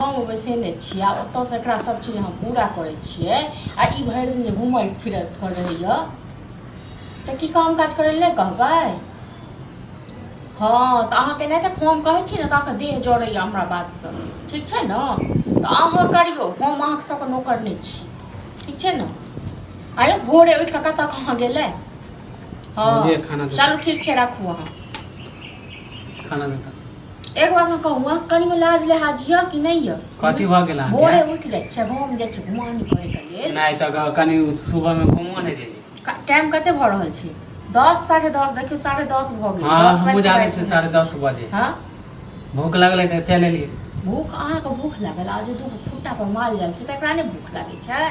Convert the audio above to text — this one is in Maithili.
गाँवमे बैसेने छियै आ ओतऽसँ एकरा सब चीज अहाँ पूरा करै छियै आ ई भरि दिन जे घूमल फिरल पर रहैए तऽ की काम काज करै लए नहि कहबै हँ तऽ अहाँके नहि तऽ हम कहै छी ने तऽ अहाँके देह जड़ैए हमरा बातसँ ठीक छै ने तऽ अहाँ करियौ हम अहाँके सबके नौकर नहि छी ठीक छै ने आयो भोरे उठि कऽ कतऽ कहाँ गेलै हँ मुझे खाना दो। चलू ठीक छै राखू अहाँ खाना में खा एक बात हम कहूँ कनी में लाज लिहाज यऽ कि नहीं यऽ कथी भऽ गेल अहाँके? भोरे उठ जाए छै गाँव में जाए छै घुमान करे के लिए नहीं तो ग- कनी सुबह में घूमो नहीं देली टाइम कते भऽ रहल छै दस साढ़े दस देखियो साढ़े दस भऽ गेल हाँ दस हम बाजि बुझा गेल लै छी छै। साढ़े दस बजे हाँ भूख लगलै तऽ चलि एलियै भूख अहाँके भूख लागल आ जे दूगो फुट्टा पर माल जाल छै तकरा नहि भूख लागै छै